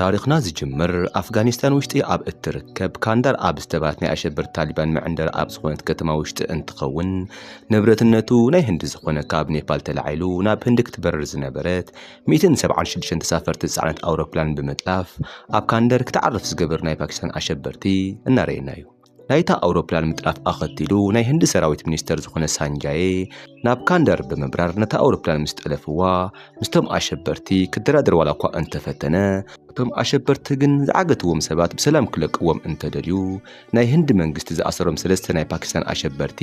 ታሪኽና ዝጅምር ኣፍጋኒስታን ውሽጢ ኣብ እትርከብ ካንዳር ኣብ ዝተባህለት ናይ ኣሸበርቲ ታሊባን መዕንደሪ ኣብ ዝኾነት ከተማ ውሽጢ እንትኸውን ንብረትነቱ ናይ ህንዲ ዝኾነ ካብ ኔፓል ተላዒሉ ናብ ህንዲ ክትበርር ዝነበረት 176 ተሳፈርቲ ዝፀዓነት ኣውሮፕላን ብምጥላፍ ኣብ ካንደር ክትዓርፍ ዝገበር ናይ ፓኪስታን ኣሸበርቲ እናረኤና እዩ። ናይታ ኣውሮፕላን ምጥራፍ ኣኸቲሉ ናይ ህንዲ ሰራዊት ሚኒስተር ዝኾነ ሳንጃየ ናብ ካንደር ብምብራር ነታ ኣውሮፕላን ምስ ጠለፍዋ ምስቶም ኣሸበርቲ ክደራደር ዋላ እኳ እንተፈተነ እቶም ኣሸበርቲ ግን ዝዓገትዎም ሰባት ብሰላም ክለቅዎም እንተደልዩ ናይ ህንዲ መንግስቲ ዝኣሰሮም ሰለስተ ናይ ፓኪስታን ኣሸበርቲ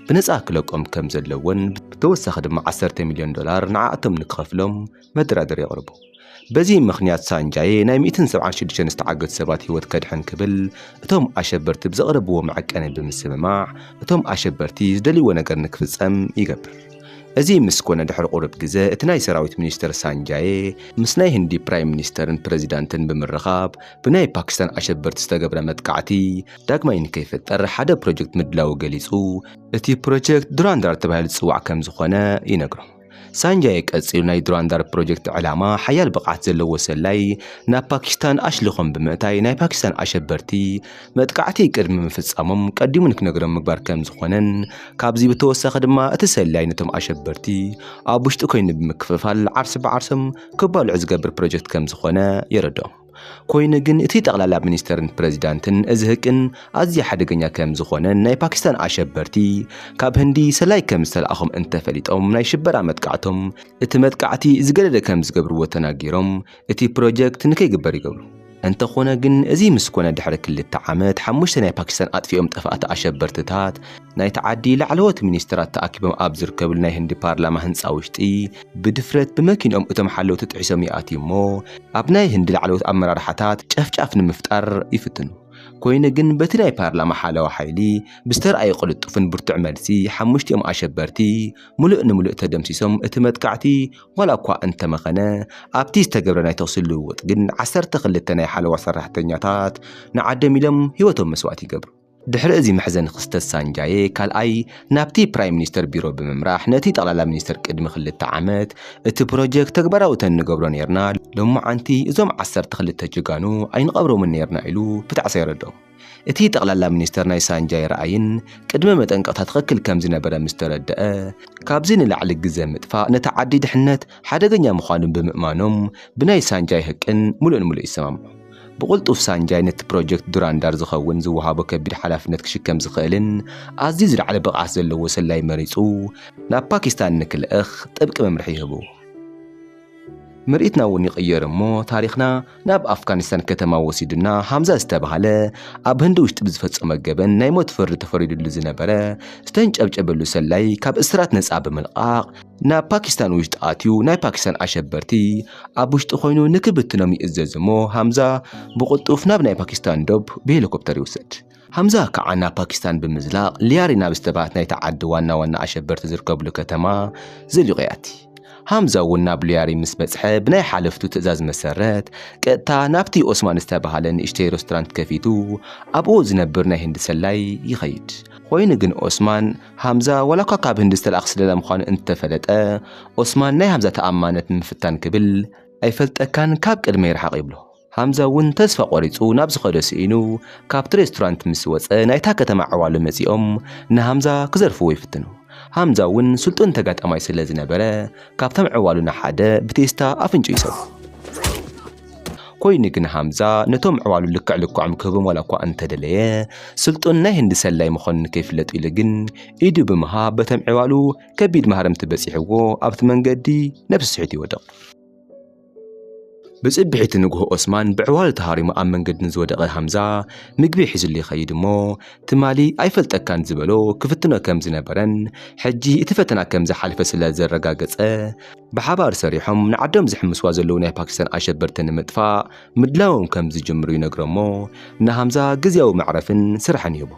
ብነፃ ክለቆም ከም ዘለዎን ብተወሳኺ ድማ ዓሰርተ ሚልዮን ዶላር ንዓኣቶም ንክኸፍሎም መደራደሪ የቕርቡ። በዚ ምኽንያት ሳንጃየ ናይ ሚእትን ሰብዓን ሽዱሽተን ዝተዓገቱ ሰባት ህይወት ከድሕን ክብል እቶም ኣሸበርቲ ብዘቕረብዎ መዐቀኒ ብምስምማዕ እቶም ኣሸበርቲ ዝደልይዎ ነገር ንክፍጸም ይገብር። እዚ ምስ ኮነ ድሕሪ ቁሩብ ግዘ እቲ ናይ ሰራዊት ሚኒስተር ሳንጃየ ምስ ናይ ህንዲ ፕራይም ሚኒስተርን ፕረዚዳንትን ብምርኻብ ብናይ ፓኪስታን ኣሸበርቲ ዝተገብረ መጥቃዕቲ ዳግማይ ንከይፍጠር ሓደ ፕሮጀክት ምድላዉ ገሊጹ። እቲ ፕሮጀክት ዱራንዳር ተባሂሉ ዝጽዋዕ ከምዝኾነ ይነግሮም። ሳንጃየ ቀጺሉ ናይ ዱራንዳር ፕሮጀክት ዕላማ ሓያል ብቕዓት ዘለዎ ሰላይ ናብ ፓኪስታን ኣሽሊኾም ብምእታይ ናይ ፓኪስታን ኣሸበርቲ መጥቃዕቲ ቅድሚ ምፍጻሞም ቀዲሙ ንክነግሮም ምግባር ከም ዝኾነን ካብዚ ብተወሳኺ ድማ እቲ ሰላይ ነቶም ኣሸበርቲ ኣብ ውሽጢ ኮይኑ ብምክፍፋል ዓርሲ ብዓርሶም ክባልዑ ዝገብር ፕሮጀክት ከም ዝኾነ የረድኦም። ኮይኑ ግን እቲ ጠቕላላ ሚኒስተርን ፕረዚዳንትን እዚ ህቅን ኣዝዩ ሓደገኛ ከም ዝኾነን ናይ ፓኪስታን ኣሸበርቲ ካብ ህንዲ ሰላይ ከም ዝተላእኾም እንተፈሊጦም ናይ ሽበራ መጥቃዕቶም እቲ መጥቃዕቲ ዝገደደ ከም ዝገብርዎ ተናጊሮም እቲ ፕሮጀክት ንከይግበር ይገብሩ። እንተኾነ ግን እዚ ምስ ኮነ ድሕሪ ክልተ ዓመት ሓሙሽተ ናይ ፓኪስታን ኣጥፊኦም ጠፋእቲ ኣሸበርትታት ናይቲ ዓዲ ላዕለዎት ሚኒስተራት ተኣኪቦም ኣብ ዝርከብሉ ናይ ህንዲ ፓርላማ ህንጻ ውሽጢ ብድፍረት ብመኪንኦም እቶም ሓለውቲ ጥሒሶም ይኣትዩ እሞ ኣብ ናይ ህንዲ ላዕለዎት ኣመራርሓታት ጨፍጫፍ ንምፍጣር ይፍትኑ። ኮይኑ ግን በቲ ናይ ፓርላማ ሓለዋ ሓይሊ ብዝተርኣየ ቅልጡፍን ብርቱዕ መልሲ ሓሙሽቲኦም ኣሸበርቲ ምሉእ ንምሉእ ተደምሲሶም እቲ መጥቃዕቲ ዋላ እኳ እንተመኸነ ኣብቲ ዝተገብረ ናይ ተኹሲ ልውውጥ ግን ዓሰርተ ክልተ ናይ ሓለዋ ሰራሕተኛታት ንዓዶም ኢሎም ህይወቶም መስዋእቲ ይገብሩ። ድሕሪ እዚ መሕዘኒ ክስተት ሳንጃዬ ካልኣይ ናብቲ ፕራይም ሚኒስተር ቢሮ ብምምራሕ ነቲ ጠቕላላ ሚኒስተር ቅድሚ ክልተ ዓመት እቲ ፕሮጀክት ተግባራዊ ተንገብሮ ኔርና ሎምዓንቲ እዞም ዓሰርተ ክልተ ጀጋኑ ኣይንቐብሮምን ኔርና ኢሉ ብጣዕሳ የረድኦም። እቲ ጠቕላላ ሚኒስተር ናይ ሳንጃዬ ራእይን ቅድመ መጠንቀቕታ ትኽክል ከምዝነበረ ምስተረደኣ ካብዚ ንላዕሊ ግዘ ምጥፋእ ነቲ ዓዲ ድሕነት ሓደገኛ ምዃኑ ብምእማኖም ብናይ ሳንጃዬ ህቅን ምሉእን ምሉእ ይሰማምዑ። ብቕልጡፍ ሳንጃይ ነቲ ፕሮጀክት ዱራንዳር ዝኸውን ዝወሃቦ ከቢድ ሓላፍነት ክሽከም ዝኽእልን ኣዝዩ ዝለዓለ ብቕዓት ዘለዎ ሰላዪ መሪጹ ናብ ፓኪስታን ንክልእኽ ጥብቂ መምርሒ ይህቡ። ምርኢትና እውን ይቕየር እሞ ታሪኽና ናብ ኣፍጋኒስታን ከተማ ወሲዱና፣ ሃምዛ ዝተባህለ ኣብ ህንዲ ውሽጢ ብዝፈጸሞ ገበን ናይ ሞት ፍርዲ ተፈሪዱሉ ዝነበረ ዝተንጨብጨበሉ ሰላዪ ካብ እስራት ነጻ ብምልቃቕ፣ ናብ ፓኪስታን ውሽጢ ኣትዩ ናይ ፓኪስታን ኣሸበርቲ ኣብ ውሽጢ ኮይኑ ንክብትኖም ይእዘዝ እሞ ሃምዛ ብቕልጡፍ ናብ ናይ ፓኪስታን ዶብ ብሄሊኮፕተር ይውሰድ። ሃምዛ ከዓ ናብ ፓኪስታን ብምዝላቕ ሊያሪ ናብ ዝተባህት ናይቲ ዓዲ ዋና ዋና ኣሸበርቲ ዝርከብሉ ከተማ ዘልቖ ያቲ። ሃምዛ እውን ናብ ሊያሪ ምስ በጽሐ ብናይ ሓለፍቱ ትእዛዝ መሰረት ቀጥታ ናብቲ ኦስማን ዝተባህለ ንእሽተይ ሬስቶራንት ከፊቱ ኣብኡ ዝነብር ናይ ህንዲ ሰላይ ይኸይድ። ኮይኑ ግን ኦስማን ሃምዛ ዋላኳ ካብ ህንዲ ዝተላእኽ ስለላ ምዃኑ እንተፈለጠ፣ ኦስማን ናይ ሃምዛ ተኣማንነት ንምፍታን ክብል፣ ኣይፈልጠካን ካብ ቅድመይ ርሓቕ ይብሎ። ሃምዛ እውን ተስፋ ቆሪጹ ናብ ዝኸዶ ስኢኑ ካብቲ ሬስቶራንት ምስ ወጸ ናይታ ከተማ ዕዋሉ መጺኦም ንሃምዛ ክዘርፍዎ ይፍትኑ። ሃምዛ እውን ስልጡን ተጋጣማይ ስለ ዝነበረ ካብቶም ዕዋሉ ንሓደ ብቴስታ ኣፍንጭኡ ይሰብሮ። ኮይኑ ግን ሃምዛ ነቶም ኣዕዋሉ ልክዕ ልክዖም ክህቦም ዋላ እኳ እንተደለየ፣ ስልጡን ናይ ህንዲ ሰላዪ ምዃኑ ንከይፍለጥ ኢሉ ግን ኢዱ ብምሃብ በቶም ኣዕዋሉ ከቢድ ማህረምቲ በጺሕዎ ኣብቲ መንገዲ ነብሱ ስሒቱ ይወድቕ። ብጽብሒቲ ንግሆ ኦስማን ብኣዕዋሉ ተሃሪሙ ኣብ መንገዲ ንዝወደቐ ሃምዛ ምግቢ ሒዝሉ ይኸይድ እሞ ትማሊ ኣይፈልጠካን ዝበሎ ክፍትኖ ከም ዝነበረን ሕጂ እቲ ፈተና ከም ዝሓለፈ ስለ ዘረጋገጸ ብሓባር ሰሪሖም ንዓዶም ዝሕምስዋ ዘለዉ ናይ ፓኪስታን ኣሸበርቲ ንምጥፋእ ምድላዎም ከም ዝጅምሩ ይነግሮ እሞ ንሃምዛ ግዝያዊ መዕረፍን ስራሕን ይህቦ።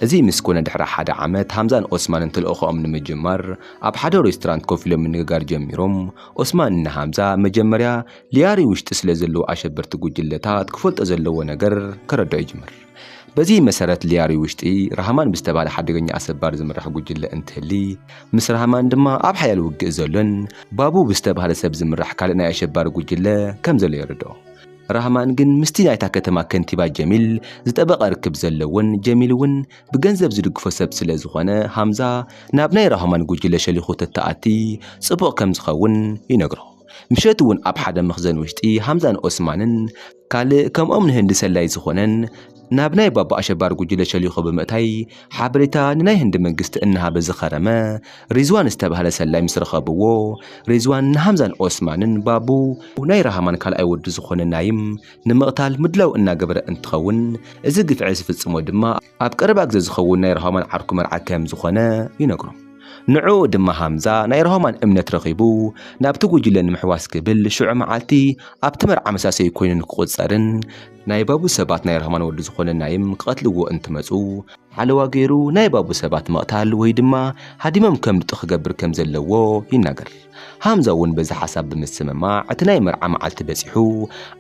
እዚ ምስ ኮነ ድሕሪ ሓደ ዓመት ሃምዛን ኦስማንን ተልእኾኦም ንምጅማር ኣብ ሓደ ሬስቶራንት ኮፍ ኢሎም ምንግጋር ጀሚሮም። ኦስማን ንሃምዛ መጀመርያ ሊያሪ ውሽጢ ስለ ዘለዉ ኣሸበርቲ ጉጅለታት ክፈልጦ ዘለዎ ነገር ከረድኦ ይጅምር። በዚ መሰረት ሊያሪ ውሽጢ ራህማን ብዝተባህለ ሓደገኛ ኣሰባሪ ዝምራሕ ጉጅለ እንትህሊ ምስ ራህማን ድማ ኣብ ሓያል ውግእ ዘሎን ባቡ ብዝተባህለ ሰብ ዝምራሕ ካልእ ናይ ኣሸባሪ ጉጅለ ከም ዘሎ የረድኦ። ራህማን ግን ምስቲ ናይታ ከተማ ከንቲባ ጀሚል ዝጠበቐ ርክብ ዘለዎን ጀሚል እውን ብገንዘብ ዝድግፎ ሰብ ስለ ዝኾነ ሃምዛ ናብ ናይ ራህማን ጉጅለ ሸሊኹ ተተኣቲ ጽቡቕ ከም ዝኸውን ይነግሮ። ምሸት እውን ኣብ ሓደ መኽዘን ውሽጢ ሃምዛን ኦስማንን ካልእ ከምኦም ንህንዲ ሰላዪ ዝኾነን ናብ ናይ ባባ ኣሸባሪ ጉጅለ ሸሊኾ ብምእታይ ሓበሬታ ንናይ ህንዲ መንግስቲ እናሃበ ዝኸረመ ሪዝዋን ዝተባህለ ሰላዪ ምስ ረኸብዎ ሪዝዋን ንሃምዛን ኦስማንን ባቡ ናይ ራህማን ካልኣይ ወዲ ዝኾነ ናይም ንምቕታል ምድላው እናገበረ እንትኸውን እዚ ግፍዒ ዝፍጽሞ ድማ ኣብ ቀረባ ግዜ ዝኸውን ናይ ራሆማን ዓርኩ መርዓ ከም ዝኾነ ይነግሮም። ንዕኡ ድማ ሃምዛ ናይ ራሆማን እምነት ረኺቡ ናብቲ ጉጅለ ንምሕዋስ ክብል ሽዑ መዓልቲ ኣብቲ መርዓ መሳሰዩ ኮይኑ ንክቑጸርን ናይ ባቡ ሰባት ናይ ራሆማን ወዲ ዝኾነ ናይም ክቐትልዎ እንትመጹ ሓለዋ ገይሩ ናይ ባቡ ሰባት ምቕታል ወይ ድማ ሃዲሞም ከምልጡ ክገብር ከም ዘለዎ ይናገር። ሃምዛ እውን በዚ ሓሳብ ብምስምማዕ እቲ ናይ መርዓ መዓልቲ በጺሑ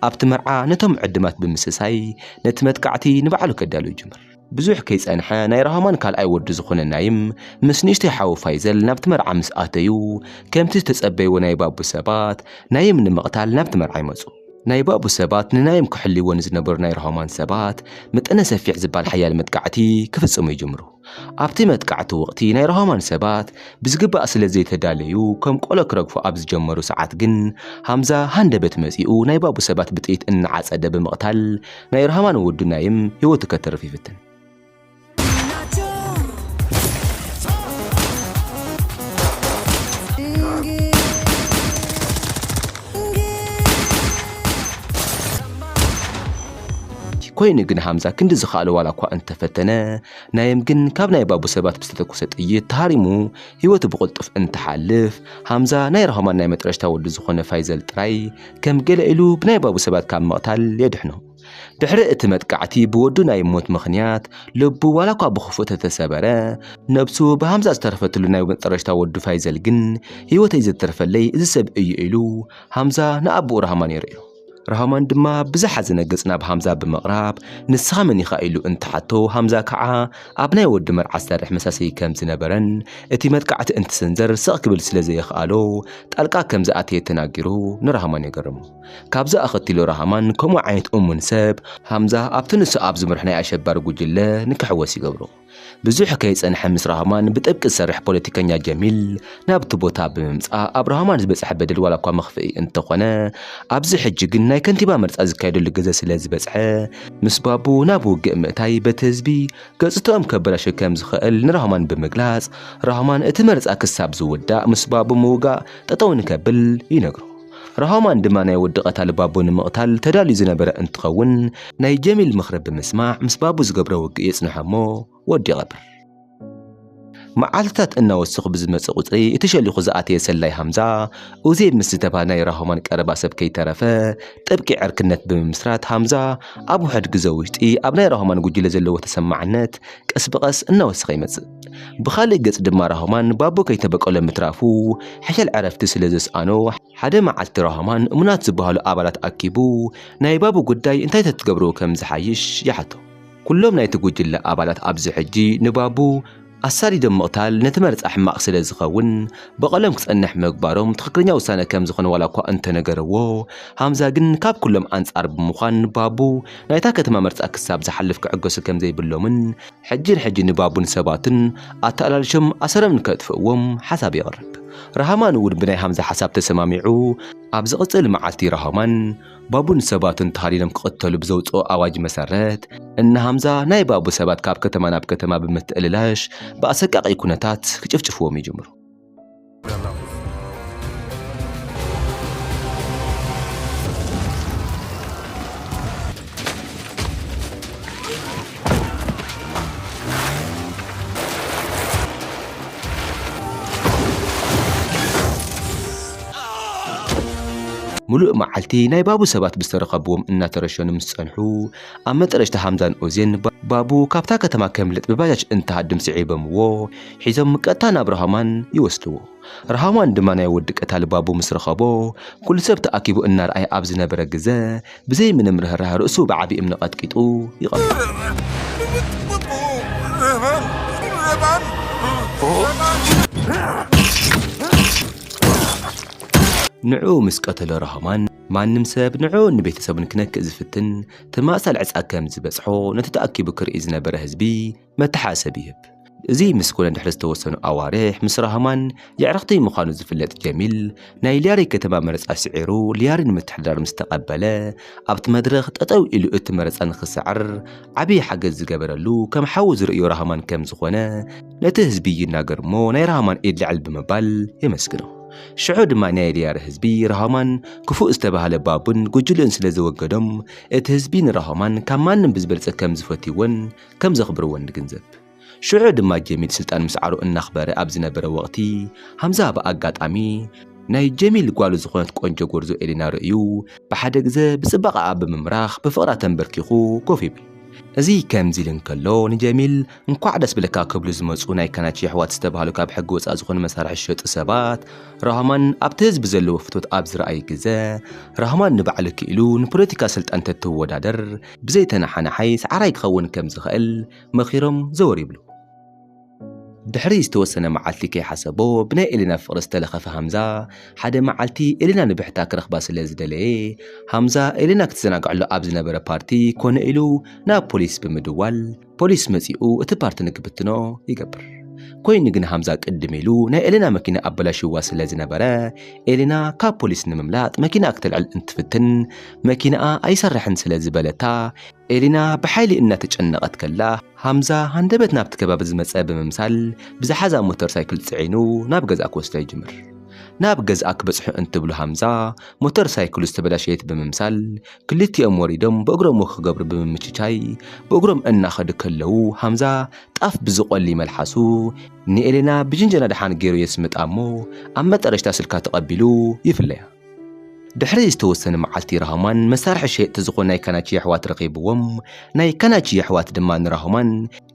ኣብቲ መርዓ ነቶም ዕድማት ብምስሳይ ነቲ መጥቃዕቲ ንባዕሉ ከዳሉ ይጅምር። ብዙሕ ከይጸንሐ ናይ ራህማን ካልኣይ ወዱ ዝኾነ ናይም ምስ ንእሽተይ ሓዉ ፋይዘል ናብቲ መርዓ ምስ ኣተዩ ከምቲ ዝተጸበይዎ ናይ ባቡ ሰባት ናይም ንምቕታል ናብቲ መርዓ ይመጹ። ናይ ባቡ ሰባት ንናይም ክሕልይዎ ንዝነበሩ ናይ ራህማን ሰባት መጠነ ሰፊሕ ዝባል ሓያል መጥቃዕቲ ክፍጽሙ ይጅምሩ። ኣብቲ መጥቃዕቲ ወቕቲ ናይ ራሆማን ሰባት ብዝግባእ ስለ ዘይተዳለዩ ከም ቆሎ ክረግፉ ኣብ ዝጀመሩ ሰዓት ግን ሃምዛ ሃንደበት መጺኡ ናይ ባቡ ሰባት ብጥይት እናዓጸደ ብምቕታል ናይ ራህማን ወዱ ናይም ህይወቱ ከተርፍ ይፍትን። ኮይኑ ግን ሃምዛ ክንዲ ዝኸኣሎ ዋላ እኳ እንተፈተነ፣ ናይም ግን ካብ ናይ ባቡ ሰባት ብዝተተኮሰ ጥይት ተሃሪሙ ህይወቱ ብቕልጡፍ እንትሓልፍ፣ ሃምዛ ናይ ራሆማን ናይ መጠረሽታ ወዱ ዝኾነ ፋይዘል ጥራይ ከም ገለ ኢሉ ብናይ ባቡ ሰባት ካብ ምቕታል የድሕኖ። ድሕሪ እቲ መጥቃዕቲ ብወዱ ናይ ሞት ምኽንያት ልቡ ዋላ እኳ ብኽፉእ ተተሰበረ፣ ነብሱ ብሃምዛ ዝተረፈትሉ ናይ መጠረሽታ ወዱ ፋይዘል ግን ህይወተይ ዘትረፈለይ እዚ ሰብ እዩ ኢሉ ሃምዛ ንኣቡኡ ራህማን የርእዮ። ራህማን ድማ ብዝሓዘነ ገጽ ናብ ሃምዛ ብምቕራብ ንስኻ መን ኢኻ ኢሉ እንትሓቶ ሃምዛ ከዓ ኣብ ናይ ወዲ መርዓ ዝሰርሕ መሳሰዪ ከም ዝነበረን እቲ መጥቃዕቲ እንትስንዘር ስቕ ክብል ስለ ዘየኽኣሎ ጣልቃ ከም ዝኣተየ ተናጊሩ ንራህማን የገርሙ። ካብዚ ኣኸቲሉ ራህማን ከምኡ ዓይነት እሙን ሰብ ሃምዛ ኣብቲ ንሱ ኣብ ዝምርሕ ናይ ኣሸባሪ ጉጅለ ንክሕወስ ይገብሮ። ብዙሕ ከይጸንሐ ምስ ራህማን ብጥብቂ ዝሰርሕ ፖለቲከኛ ጀሚል ናብቲ ቦታ ብምምጻእ ኣብ ራህማን ዝበጽሐ በደል ዋላ እኳ መኽፍኢ እንተኾነ ኣብዚ ሕጂ ግን ናይ ከንቲባ መርጻ ዝካየደሉ ግዘ ስለ ዝበጽሐ ምስ ባቡ ናብ ውግእ ምእታይ በቲ ህዝቢ ገጽትኦም ከበላሹ ከም ዝኽእል ንራህማን ብምግላጽ ራህማን እቲ መርጻ ክሳብ ዝውዳእ ምስ ባቡ ምውጋእ ጠጠው ንከብል ይነግሮ። ራሆማን ድማ ናይ ወዲ ቀታሊ ባቡ ንምቕታል ተዳልዩ ዝነበረ እንትኸውን ናይ ጀሚል ምኽሪ ብምስማዕ ምስ ባቡ ዝገብሮ ውግእ የጽንሖ እሞ ወዲ ይቐብር። መዓልትታት እናወሰኹ ብዝመጽእ ቁጽሪ እቲ ሸሊኹ ዝኣተየ ሰላይ ሃምዛ ኡዜብ ምስ ዝተባህለ ናይ ራሆማን ቀረባ ሰብ ከይተረፈ ጥብቂ ዕርክነት ብምምስራት ሃምዛ ኣብ ውሕድ ግዘ ውሽጢ ኣብ ናይ ራሆማን ጉጅለ ዘለዎ ተሰማዕነት ቀስ ብቐስ እናወሰኸ ይመጽእ። ብኻልእ ገፅ ድማ ራህማን ባቦ ከይተበቀሎ ምትራፉ ሕሸል ዕረፍቲ ስለ ዘስኣኖ ሓደ መዓልቲ ራህማን እሙናት ዝበሃሉ ኣባላት ኣኪቡ ናይ ባቡ ጉዳይ እንታይ ተትገብርዎ ከም ዝሓይሽ ይሓቶ። ኩሎም ናይቲ ጉጅለ ኣባላት ኣብዚ ሕጂ ንባቡ ኣሳዲዶም ምቕታል ነቲ መርፃ ሕማቕ ስለ ዝኸውን በቐሎም ክፀንሕ ምግባሮም ትኽክለኛ ውሳነ ከም ዝኾነ ዋላ እኳ እንተነገረዎ ሃምዛ ግን ካብ ኩሎም ኣንፃር ብምዃን ባቡ ናይታ ከተማ መርፃ ክሳብ ዝሓልፍ ክዕገሱ ከም ዘይብሎምን ሕጂ ንሕጂ ንባቡን ሰባቱን ኣተኣላልሾም ኣሰሮም ንከጥፍእዎም ሓሳብ የቕርብ። ራህማን እውን ብናይ ሃምዛ ሓሳብ ተሰማሚዑ ኣብ ዝቕጽል መዓልቲ ራህማን ባቡን ሰባቱን ተሃዲኖም ክቕተሉ ብዘውጽኦ ኣዋጅ መሰረት እነ ሃምዛ ናይ ባቡ ሰባት ካብ ከተማ ናብ ከተማ ብምትእልላሽ ብኣሰቃቒ ኩነታት ክጭፍጭፍዎም ይጅምሩ። ሙሉእ መዓልቲ ናይ ባቡ ሰባት ብዝተረኸብዎም እናተረሸኑ ምስ ጸንሑ ኣብ መጠረሽታ ሃምዛን ኦዜን ባቡ ካብታ ከተማ ከምልጥ ብባጃጅ እንትሃድም ስዒበምዎ ሒዞም ቀጥታ ናብ ራሃማን ይወስድዎ። ራሃማን ድማ ናይ ወዲ ቀታሊ ባቡ ምስ ረኸቦ፣ ኩሉ ሰብ ተኣኪቡ እናርኣየ ኣብ ዝነበረ ግዘ፣ ብዘይ ምንም ርህራሀ ርእሱ ብዓቢ እምኒ ቀጥቂጡ ይቐትሎ። ንዕኡ ምስ ቀተሎ ራሃማን፣ ማንም ሰብ ንዕኡን ንቤተሰቡን ክነክእ ዝፍትን ተመሳሳሊ ዕፅኣ ከም ዝበፅሖ ነቲ ተኣኪቡ ክርኢ ዝነበረ ህዝቢ መተሓሰቢ ይህብ። እዚ ምስ ኮነ ድሕሪ ዝተወሰኑ ኣዋርሕ ምስ ራህማን የዕርኽቲ ምዃኑ ዝፍለጥ ጀሚል ናይ ሊያሪ ከተማ መረፃ ስዒሩ ሊያሪ ንምትሕድዳር ምስ ተቐበለ ኣብቲ መድረኽ ጠጠው ኢሉ እቲ መረፃ ንክስዕር ዓብዪ ሓገዝ ዝገበረሉ ከም ሓዉ ዝርእዮ ራህማን ከም ዝኾነ ነቲ ህዝቢ ይናገር እሞ ናይ ራህማን ኢድ ልዕል ብምባል የመስግኖ። ሽዑ ድማ ናይ ሊያሪ ህዝቢ ራህማን ክፉእ ዝተባህለ ባቡን ጉጅልኡን ስለ ዘወገዶም እቲ ህዝቢ ንራህማን ካብ ማንም ብዝበልፀ ከም ዝፈትይዎን ከም ዘኽብርዎ ንግንዘብ። ሽዑ ድማ ጀሚል ስልጣን ምስዓሩ እናኽበረ ኣብ ዝነበረ ወቕቲ፣ ሃምዛ ብኣጋጣሚ ናይ ጀሚል ጓሉ ዝኾነት ቆንጆ ጎርዞ ኤሊና ርእዩ ብሓደ ግዘ ብጽባቐኣ ብምምራኽ ብፍቕራ ተምበርኪኹ ኮፍ ይብል። እዚ ከምዚ ኢሉ እንከሎ ንጀሚል እንኳዕ ደስ በለካ ክብሉ ዝመጹ ናይ ካናቺ ኣሕዋት ዝተባህሉ ካብ ሕጊ ወጻእ ዝኾኑ መሳርሒ ዝሸጡ ሰባት ራህማን ኣብቲ ህዝቢ ዘለዎ ፍትወት ኣብ ዝረኣዩ ግዘ ራህማን ንባዕሉ ክኢሉ ንፖለቲካ ስልጣን ተትወዳደር ብዘይ ተነሓናሓይ ሰዓራይ ክኸውን ከም ዝኸእል መኺሮም ዘወር ይብሉ። ድሕሪ ዝተወሰነ መዓልቲ ከይሓሰቦ ብናይ ኤሊና ፍቕሪ ዝተለኸፈ ሃምዛ፣ ሓደ መዓልቲ ኤሊና ንብሕታ ክረኽባ ስለ ዝደለየ፣ ሃምዛ ኤሊና ክትዘናግዐሉ ኣብ ዝነበረ ፓርቲ ኮነ ኢሉ ናብ ፖሊስ ብምድዋል፣ ፖሊስ መጺኡ እቲ ፓርቲ ንክብትኖ ይገብር። ኮይኑ ግን ሃምዛ ቅድም ኢሉ ናይ ኤሌና መኪና ኣበላሽዋ ስለ ዝነበረ ኤሌና ካብ ፖሊስ ንምምላጥ መኪና ክትልዕል እንትፍትን መኪናኣ ኣይሰርሕን ስለ ዝበለታ ኤሌና ብሓይሊ እናተጨነቐት ከላ ሃምዛ ሃንደበት ናብቲ ከባቢ ዝመፀ ብምምሳል ብዝሓዛ ሞተር ሳይክል ፅዒኑ ናብ ገዝኣ ክወስዳ ይጅምር። ናብ ገዝኣ ክበፅሑ እንትብሉ ሃምዛ ሞተር ሳይክሉ ዝተበላሸየት ብምምሳል ክልቲኦም ወሪዶም ብእግሮም ወክ ክገብሩ ብምምችቻይ ብእግሮም እናኸዱ ከለዉ ሃምዛ ጣፍ ብዝቖሊ መልሓሱ ንኤሌና ብጅንጀና ድሓን ገይሩ የስምጣ እሞ ኣብ መጠረሽታ ስልካ ተቐቢሉ ይፍለያ። ድሕሪ ዝተወሰነ መዓልቲ ራሆማን መሳርሒ ሸየጥቲ ዝኾኑ ናይ ካናቺ የሕዋት ረኺብዎም። ናይ ካናቺ የሕዋት ድማ ንራሆማን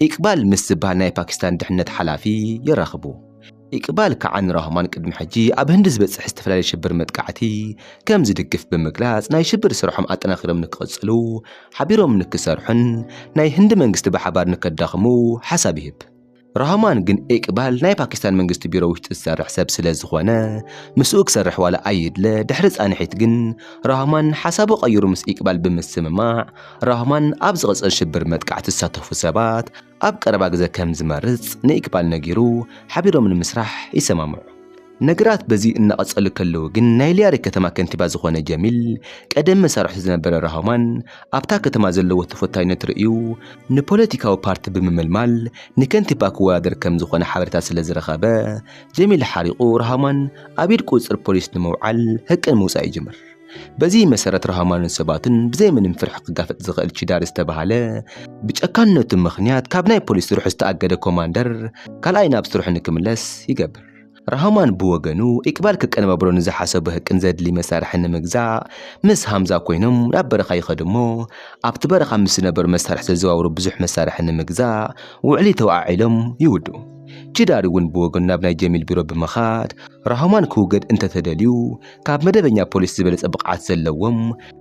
ኢቅባል ምስ ዝበሃል ናይ ፓኪስታን ድሕነት ሓላፊ የራኽቡ። ኢቅባል ከዓኒ ራህማን ቅድሚ ሕጂ ኣብ ህንዲ ዝበጽሕ ዝተፈላለየ ሽብር መጥቃዕቲ ከም ዝድግፍ ብምግላጽ ናይ ሽብር ስርሖም ኣጠናኺሮም ንክቕጽሉ ሓቢሮም ንክሰርሑን ናይ ህንዲ መንግስቲ ብሓባር ንከዳኽሙ ሓሳብ ይህብ። ራህማን ግን ኢቅባል ናይ ፓኪስታን መንግስቲ ቢሮ ውሽጢ ዝሰርሕ ሰብ ስለ ዝኾነ ምስኡ ክሰርሕ ዋላ ኣይድለ ድሕሪ ጻንሒት ግን ራህማን ሓሳቡ ቀይሩ ምስ ኢቅባል ብምስምማዕ ራህማን ኣብ ዝቕጽል ሽብር መጥቃዕቲ ዝሳተፉ ሰባት ኣብ ቀረባ ግዘ ከም ዝመርፅ ንኢክባል ነጊሩ ሓቢሮም ንምስራሕ ይሰማምዑ። ነገራት በዚ እናቐፀሉ ከለዉ ግን ናይ ሊያሪ ከተማ ከንቲባ ዝኾነ ጀሚል ቀደም መሳርሕቱ ዝነበረ ራሆማን ኣብታ ከተማ ዘለዎ ተፈታዊነት ርእዩ ንፖለቲካዊ ፓርቲ ብምምልማል ንከንቲባ ክወዳደር ከም ዝኾነ ሓበሬታ ስለ ዝረኸበ ጀሚል ሓሪቑ ራሆማን ኣብ ኢድ ቁፅፅር ፖሊስ ንምውዓል ህቅን ምውፃእ ይጅምር። በዚ መሰረት ራህማንን ሰባትን ብዘይ ምንም ፍርሒ ክጋፈጥ ዝኽእል ቺዳር ዝተባህለ ብጨካንነቱ ምኽንያት ካብ ናይ ፖሊስ ስርሑ ዝተኣገደ ኮማንደር ካልኣይ ናብ ስርሑ ንክምለስ ይገብር። ራህማን ብወገኑ ኢቅባል ከቀነባብሮ ንዝሓሰቦ ህቅን ዘድሊ መሳርሕን ንምግዛእ ምስ ሃምዛ ኮይኖም ናብ በረኻ ይኸዱ'ሞ ኣብቲ በረኻ ምስ ዝነበሩ መሳርሒ ዘዘዋውሩ ብዙሕ መሳርሒ ንምግዛእ ውዕሊ ተወዓዒሎም ይውድኡ። ቺዳር እውን ብወገኑ ናብ ናይ ጀሚል ቢሮ ብምኻድ ራህማን ክውገድ እንተተደልዩ ካብ መደበኛ ፖሊስ ዝበለጸ ብቕዓት ዘለዎም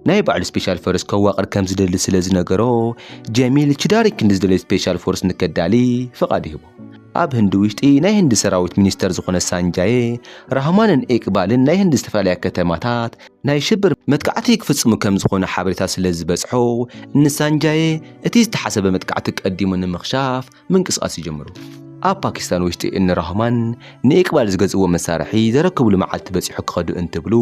ናይ ባዕሉ ስፔሻል ፎርስ ከዋቕር ከም ዝደሊ ስለ ዝነገሮ ጀሚል ችዳሪ ክንዲ ዝደለዩ ስፔሻል ፎርስ ንከዳሊ ፍቓድ ይህቦ። ኣብ ህንዲ ውሽጢ ናይ ህንዲ ሰራዊት ሚኒስተር ዝኾነ ሳንጃየ ራህማንን ኤቅባልን ናይ ህንዲ ዝተፈላለያ ከተማታት ናይ ሽብር መጥቃዕቲ ክፍጽሙ ከም ዝኾነ ሓበሬታ ስለ ዝበጽሖ ንሳንጃየ እቲ ዝተሓሰበ መጥቃዕቲ ቀዲሙ ንምኽሻፍ ምንቅስቓስ ይጀምሩ። ኣብ ፓኪስታን ውሽጢ እኒ ራህማን ንኢቅባል ዝገዝእዎ መሳርሒ ዘረክብሉ መዓልቲ በፂሑ ክኸዱ እንትብሉ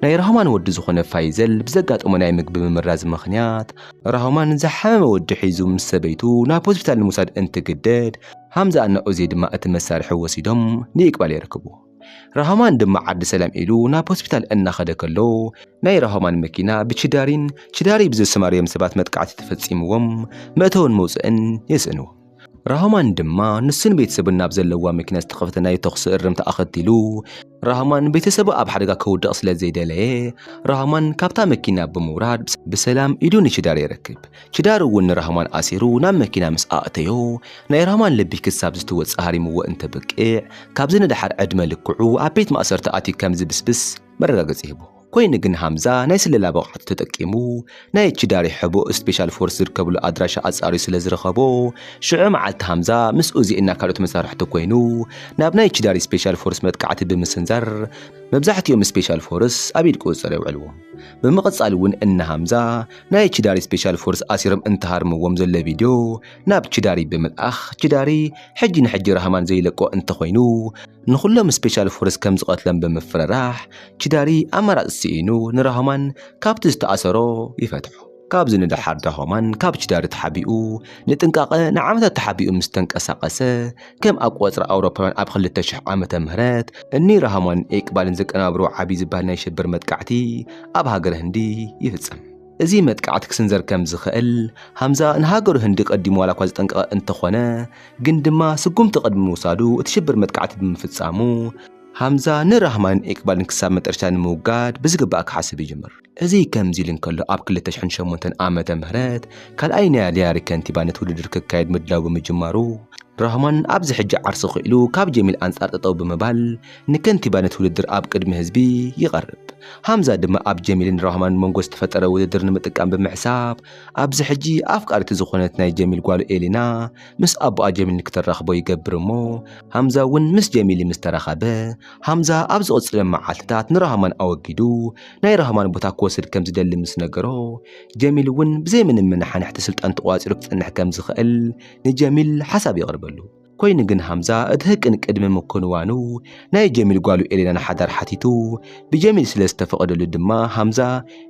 ናይ ራህማን ወዲ ዝኾነ ፋይዘል ብዘጋጠሞ ናይ ምግቢ ምምራዝ ምኽንያት ራህማን ዝሓመመ ወዲ ሒዙ ምስ ሰበይቱ ናብ ሆስፒታል ንምውሳድ እንትግደድ ሃምዛ እና ኡዜይ ድማ እቲ መሳርሒ ወሲዶም ንኢቅባል የረክብዎ። ራህማን ድማ ዓዲ ሰላም ኢሉ ናብ ሆስፒታል እናኸደ ከሎ ናይ ራህማን መኪና ብችዳሪን ችዳሪ ብዘሰማርዮም ሰባት መጥቃዕቲ ተፈጺምዎም መእተውን መውጽእን የስእኑ። ራህማን ድማ ንሱን ቤተሰቡን ናብ ዘለዋ መኪና ዝተኸፍተ ናይ ተኹሲ እርምታ ኣኸቲሉ ራህማን ቤተሰቡ ኣብ ሓደጋ ከውድቕ ስለ ዘይደለየ ራህማን ካብታ መኪና ብምውራድ ብሰላም ኢዱ ንችዳሪ የረክብ። ኪዳር እውን ንራህማን ኣሲሩ ናብ መኪና ምስ ኣእተዮ፣ ናይ ራህማን ልቢ ክሳብ ዝትወጽእ ሃሪምዎ እንተብቅዕ፣ ካብዚ ንደሓር ዕድመ ልክዑ ኣብ ቤት ማእሰርቲ ኣትዩ ከም ዝብስብስ መረጋገጺ ሂቡ። ኮይኑ ግን ሃምዛ ናይ ስለላ ብቕዓቱ ተጠቂሙ ናይ ኪዳሪ ሕቡእ ስፔሻል ፎርስ ዝርከብሉ ኣድራሻ ኣጻርዩ ስለ ዝረኸቦ፣ ሽዑ መዓልቲ ሃምዛ ምስ ኡዚ እና ካልኦት መሳርሕቱ ኮይኑ ናብ ናይ ኪዳሪ ስፔሻል ፎርስ መጥቃዕቲ ብምስንዛር መብዛሕቲኦም ስፔሻል ፎርስ ኣብ ኢድ ቁጽጽር የውዕልዎም። ብምቕጻል እውን እነ ሃምዛ ናይ ቺዳሪ ስፔሻል ፎርስ ኣሲሮም እንተሃርምዎም ዘሎ ቪድዮ ናብ ቺዳሪ ብምልኣኽ ቺዳሪ ሕጂ ንሕጂ ራህማን ዘይለቆ እንተኾይኑ ንኹሎም ስፔሻል ፎርስ ከም ዝቐትሎም ብምፍርራሕ ቺዳሪ ኣማራጺ ስኢኑ ንራህማን ካብቲ ዝተኣሰሮ ይፈትሖ። ካብዚ ንደሓር ራህማን ካብ ቺዳሪ ተሓቢኡ ንጥንቃቐ ንዓመታት ተሓቢኡ ምስ ተንቀሳቐሰ፣ ከም ኣቆፅራ ኣውሮፓውያን ኣብ ክልተ ሽሕ ዓመተ ምህረት እኒ ራህማንን ኤቅባልን ዘቀናብርዎ ዓብዪ ዝበሃል ናይ ሽብር መጥቃዕቲ ኣብ ሃገረ ህንዲ ይፍፀም። እዚ መጥቃዕቲ ክስንዘር ከም ዝኸእል ሃምዛ ንሃገሩ ህንዲ ቀዲሙ ዋላ እኳ ዘጠንቀቐ እንተኾነ ግን ድማ ስጉምቲ ቅድሚ ምውሳዱ እቲ ሽብር መጥቃዕቲ ብምፍፃሙ ሃምዛ ንራህማንን ኤቅባልን ክሳብ መጠረሽታ ንምውጋድ ብዝግባእ ክሓስብ ይጅምር። እዚ ከምዚ ኢሉ እንከሎ ኣብ ክልተ ሽሕን ሸሞንተን ዓመተ ምህረት ካልኣይ ናይ ኣልያሪ ከንቲባ ነቲ ውድድር ክካየድ ምድላው ብምጅማሩ ራህማን ኣብዚ ሕጂ ዓርሱ ክኢሉ ካብ ጀሚል ኣንጻር ጠጠው ብምባል ንከንቲባነት ውድድር ኣብ ቅድሚ ህዝቢ ይቐርብ። ሃምዛ ድማ ኣብ ጀሚልን ራህማን መንጎ ዝተፈጠረ ውድድር ንምጥቃም ብምሕሳብ ኣብዚ ሕጂ ኣፍቃሪቱ ዝኾነት ናይ ጀሚል ጓሉ ኤሊና ምስ ኣቦኣ ጀሚል ንክተራኽቦ ይገብር እሞ ሃምዛ እውን ምስ ጀሚሊ ምስ ተራኸበ ሃምዛ ኣብ ዝቕጽሎም መዓልትታት ንራህማን ኣወጊዱ ናይ ራህማን ቦታ ክወስድ ከም ዝደሊ ምስ ነገሮ፣ ጀሚል እውን ብዘይ ምንም መነሓንሕቲ ስልጣን ተቖጻጺሩ ክጸንሕ ከም ዝኽእል ንጀሚል ሓሳብ የቕርበሉ። ኮይኑ ግን ሃምዛ እቲ ህቅን ቅድሚ ምክንዋኑ ናይ ጀሚል ጓሉ ኤሌና ንሓዳር ሓቲቱ፣ ብጀሚል ስለ ዝተፈቐደሉ ድማ ሃምዛ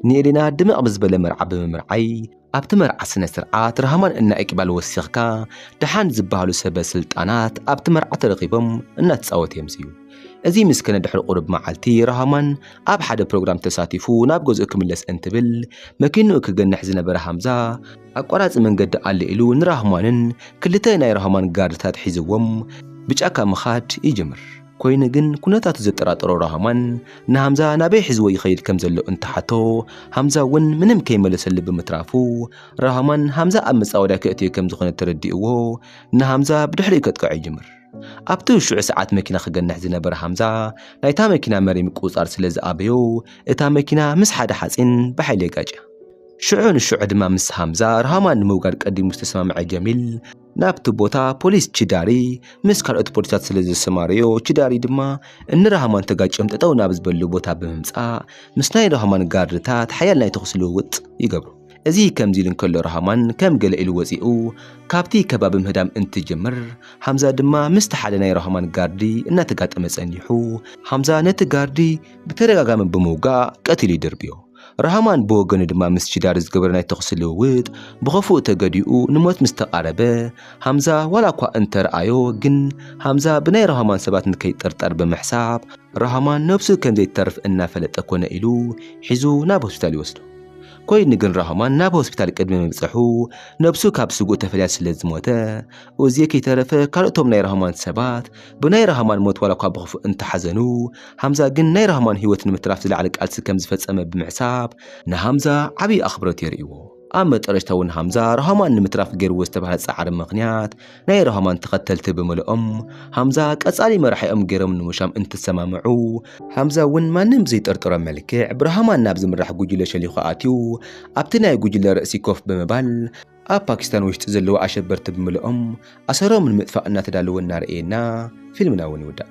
ንኤሌና ድምቕ ብዝበለ መርዓ ብምምርዓይ ኣብቲ መርዓ ስነ ስርዓት ራህማን እና ኢቅባል ወሲኽካ ደሓን ዝበሃሉ ሰበ ስልጣናት ኣብቲ መርዓ ተረኺቦም እናተፃወቱ እዮም ዝዩ እዚ ምስክነ ድሕሪ ቁሩብ መዓልቲ ራህማን ኣብ ሓደ ፕሮግራም ተሳቲፉ ናብ ገዝኡ ክምለስ እንትብል መኪንኡ ክገንሕ ዝነበረ ሃምዛ ኣቋራፂ መንገዲ ኣሎ ኢሉ ንራህማንን ክልተ ናይ ራህማን ጋርድታት ሒዝዎም ብጫካ ምኻድ ይጅምር። ኮይኑ ግን ኩነታቱ ዘጠራጠሮ ራህማን ንሃምዛ ናበይ ሒዝዎ ይኸይድ ከም ዘሎ እንትሓቶ ሃምዛ እውን ምንም ከይመለሰሉ ብምትራፉ ራህማን ሃምዛ ኣብ መጻወድያ ከእትዮ ከም ዝኾነ ተረዲእዎ ንሃምዛ ብድሕሪኡ ከጥቅዖ ይጅምር። ኣብቲ ውሽዑ ሰዓት መኪና ክገንሕ ዝነበረ ሃምዛ ናይታ መኪና መሪ ምቁጽጻር ስለ ዝኣበዮ እታ መኪና ምስ ሓደ ሓጺን ብሓይሊ የጋጭያ። ሽዑ ንሽዑ ድማ ምስ ሃምዛ ራህማን ንምውጋድ ቀዲሙ ዝተሰማምዐ ጀሚል፣ ናብቲ ቦታ ፖሊስ ችዳሪ ምስ ካልኦት ፖሊሳት ስለ ዘሰማረዮ ችዳሪ ድማ እንራህማን ተጋጭዮም ጠጠው ናብ ዝበሉ ቦታ ብምምፃእ ምስ ናይ ራህማን ጋርድታት ሓያል ናይ ተኹሲ ልውውጥ ይገብሩ። እዚ ከምዚ ኢሉ እንከሎ ራህማን ከም ገለ ኢሉ ወፂኡ ካብቲ ከባቢ ምህዳም እንትጅምር ሃምዛ ድማ ምስቲ ሓደ ናይ ራህማን ጋርዲ እናተጋጠመ ፀኒሑ ሃምዛ ነቲ ጋርዲ ብተደጋጋሚ ብምውጋእ ቀቲሉ ይድርብዮ። ራህማን ብወገኑ ድማ ምስ ቺዳር ዝገበረ ናይ ተኹሲ ልውውጥ ብኸፉኡ ተገዲኡ ንሞት ምስ ተቓረበ፣ ሃምዛ ዋላ እኳ እንተ ረኣዮ ግን ሃምዛ ብናይ ራህማን ሰባት ንከይጥርጠር ብምሕሳብ፣ ራህማን ነብሱ ከም ዘይትተርፍ እናፈለጠ ኮነ ኢሉ ሒዙ ናብ ሆስፒታል ይወስዶ። ኮይኑ ግን ራህማን ናብ ሆስፒታል ቅድሚ ምብጸሑ ነብሱ ካብ ስጉእ ተፈልያ ስለ ዝሞተ፣ ኡዜ ከይተረፈ ካልኦቶም ናይ ራህማን ሰባት፣ ብናይ ራህማን ሞት ዋላኳ ብኽፉእ እንተሓዘኑ፣ ሃምዛ ግን ናይ ራህማን ህይወት ንምትራፍ ዝለዓለ ቃልሲ ከም ዝፈጸመ ብምሕሳብ ንሃምዛ ዓቢ ኣኽብሮት የርእይዎ። ኣብ መጠረሽታ እውን ሃምዛ ራህማን ንምትራፍ ገይርዎ ዝተባህለ ጻዕሪ ምኽንያት ናይ ራህማን ተኸተልቲ ብምልኦም ሃምዛ ቀጻሊ መራሒኦም ገይሮም ንምሻም እንትሰማምዑ፣ ሃምዛ እውን ማንም ብዘይጠርጠሮ መልክዕ ብራህማን ናብ ዝምራሕ ጉጅለ ሸሊኹ ኣትዩ ኣብቲ ናይ ጉጅለ ርእሲ ኮፍ ብምባል፣ ኣብ ፓኪስታን ወሽጢ ዘለዉ ኣሸበርቲ ብምልኦም ኣሰሮም ንምጥፋእ እናተዳለወ እናረእየና ፊልምና እውን ይውዳእ።